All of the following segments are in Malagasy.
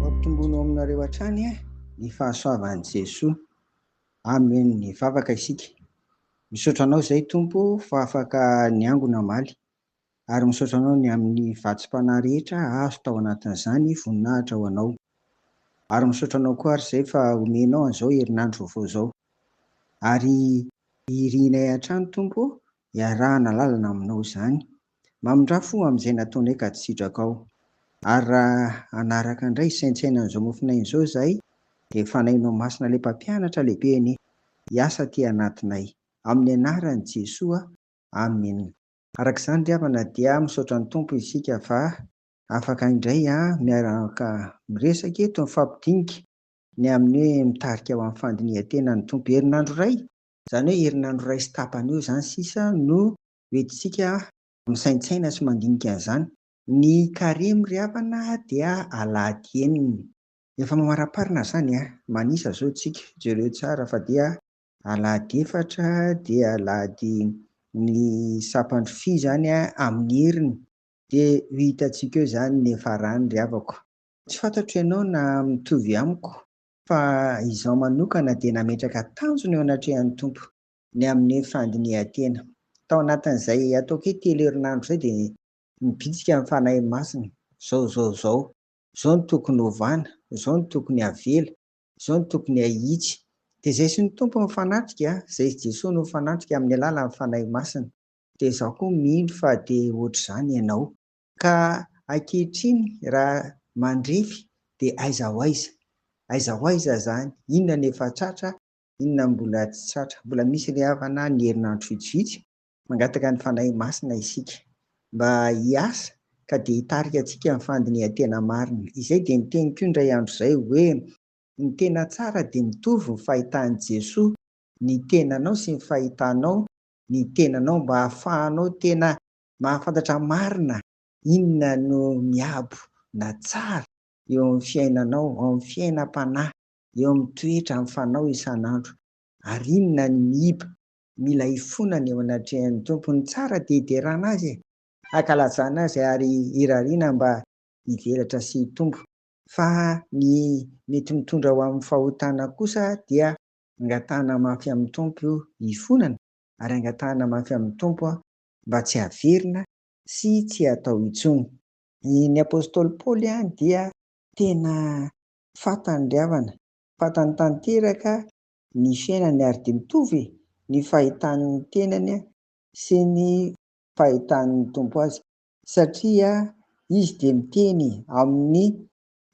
Ampitomboina ao aminareo hatrany ny fahasoavan'i Jesoa. Amen ny vavaka isika. Misaotra anao izay Tompo fa afaka niango namaly. Ary misaotra anao ny amin'ny vatsim-panahy rehetra azo tao anatin'izany voninahitra ho anao. Ary misaotra anao koa ary izay fa omenao an'izao herinandro vaovao izao. Ary irinay hatrany Tompo Iarahana lalana aminao izany. Mamindrà fo amin'izay nataonay ka tsy sidrakao. Ary raha hanaraka indray hisaintsaina an'izao mofon'aina izao izahay, dia fanahinao masina ilay Mpampianatra lehibe anie hiasa aty anatinay. Amin'ny anaran'i Jesoa, Amen. Araka izany ry havana dia misaotra ny Tompo isika fa afaka indray miaraka miresaka eto mifampidinika ny amin'ny hoe mitarika ho amin'ny fandinihan-tena ny Tompo herinandro iray Izany hoe herinandro iray sy tapany eo izany sisa no hoentintsika misaintsaina sy mandinika an'izany. Ny Karemy ry havana dia alahady enina. Efa mamariparina izany an! Manisa izao isika, jereo tsara fa dia alahady efatra dia alahady ny sampandro fy izany amin'ny heriny dia ho hitantsika eo izany ny hiafarany ry havako. Tsy fantatro ianao na mitovy amiko Fa izaho manokana dia nametraka tanjona eo anatrehan'ny Tompo ny amin'ny fandinihan-tena. Tao anatin'izay ataoko hoe telo herinandro izay dia nibitsika ny Fanahy Masina, izao, izao, izao, izao no tokony hovana, izao no tokony havela, izao no tokony hahitsy. Dia izay sy ny Tompo no fanatrika, izay sy Jesoa no fanatrika amin'ny alalan'ny Fanahy Masina. Dia izaho koa mino fa dia ohatr'izany ianao. Ka ankehitriny raha mandrefy dia aiza ho aiza? Aiza ho aiza izany? Inona no efa tratra, inona no mbola tsy tratra? Mbola misy ilay havana ny herinandro vitsivitsy. Mangataka ny Fanahy Masina isika mba hiasa ka dia hitarika antsika amin'ny fandinihan-tena marina. Izay dia niteniko io indray andro izay hoe, Ny tena tsara dia mitovy ny fahitan'i Jesoa ny tenanao sy ny fahitanao ny tenanao mba ahafahanao tena Mahafantatra marina inona no miabo na tsara eo amin'ny fiainanao, ao amin'ny fiainam-panahy, eo amin'ny toetra mifanao isan'andro, ary inona ny miiba, mila ifonana eo anatrehan'ny Tompo. Ny tsara dia hiderana Azy e! Hankalazana Azy ary hirariana mba hivelatra sy hitombo, fa ny mety mitondra ho amin'ny fahotana kosa dia angatahana mafy amin'ny Tompo ifonana, ary angatahana mafy amin'ny Tompo mba tsy haverina sy tsy hatao intsony. Ny apostoly Paoly ihany dia tena fantany ry havana, fantany tanteraka ny fiainany ary dia mitovy ny fahitany ny tenany sy ny fahitany ny Tompo azy satria izy dia miteny ao amin'ny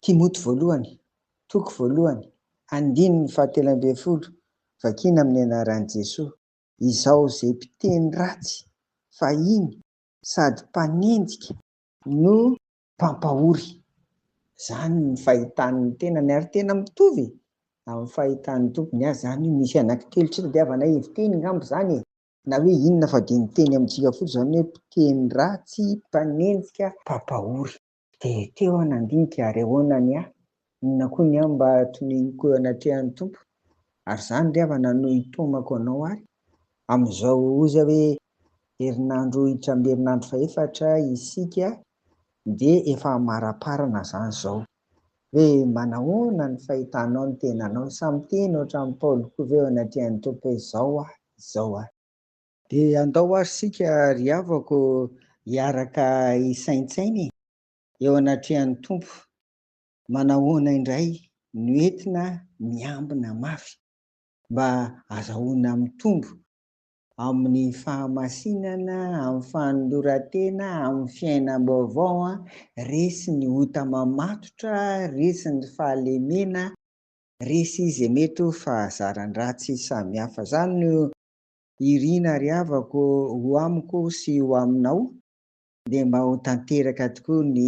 Timoty voalohany, toko voalohany, andininy fahatelo ambin'ny folo, vakiana amin'ny anaran'i Jesoa. izao izay mpiteny ratsy fahiny sady mpanenjika no mpampahory. Zany ny fahitan'ny tenany ary tena mitovy amin'ny fahitan'ny tompony azy zany io misy anaky telo tsy tadiavana heviteny ngamba zany e! Na hoe inona fa dia miteny amintsika fotsiny zany hoe mpiteny ratsy, mpanenjika, mpampahory. Dia teo aho nandinika ary ahoana ny ahy? Inona koa ny ahy mba tonihiko eo anatrehan'ny Tompo? Ary izany re afa nanohy ny taomako anao ary amin'izao oza hoe herinandro hitramby herinandro fahefatra isika dia efa hamaraparana izany izao hoe manahoana ny fahitanao ny tenanao? Samy miteny ohatran'i Paoly koa ve eo anatrehan'ny Tompo hoe izao aho, izao aho? Dia andao ary isika ry havako hiaraka hisaintsaina e, eo anatrehan'ny Tompo, manahoana indray no entina miambina mafy mba azahoana mitombo amin'ny fahamasinana, amin'ny fanoloran-tena, amin'ny fiainam-baovao, resy ny ota mamatotra, resy ny fahalemena, resy izay mety ho fahazaran-dratsy samihafa. Izany no Irina ry havako ho amiko sy ho aminao dia mba ho tanteraka tokoa ny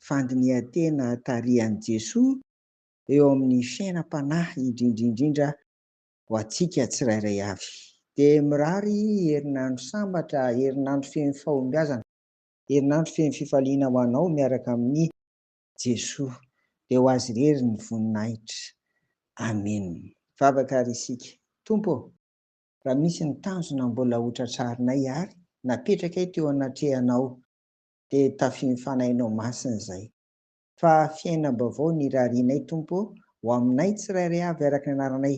fandinihan-tena tarihan'i Jesoa eo amin'ny fiainam-panahy indrindrindrindra ho antsika tsirairay avy. Dia mirary herinandro sambatra, herinandro feno fahombiazana, herinandro feno fifaliana ho anao miaraka amin'i Jesoa. Dia ho Azy irery ny voninahitra. Amena. Vavaka ary isika. Tompo ô! Raha misy ny tanjona mbola ho tratrarinay ary napetrakay teo anatrehanao dia tafian'ny Fanahinao Masina izay. Fa fiainam-baovao ny irarianay Tompo ô, ho aminay tsirairay avy araka ny anaranay,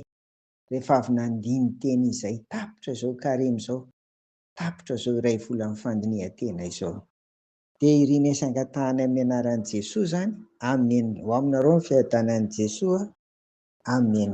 rehefa avy nandini-teny izay tapitra izao karemy izao, tapitra izao iray volan'ny fandinihan-tena izao. Dia irina sy angatahana amin'ny anaran'i Jesoa izany, Amen. Ho aminareo ny fiadanan'i Jesoa. Amen.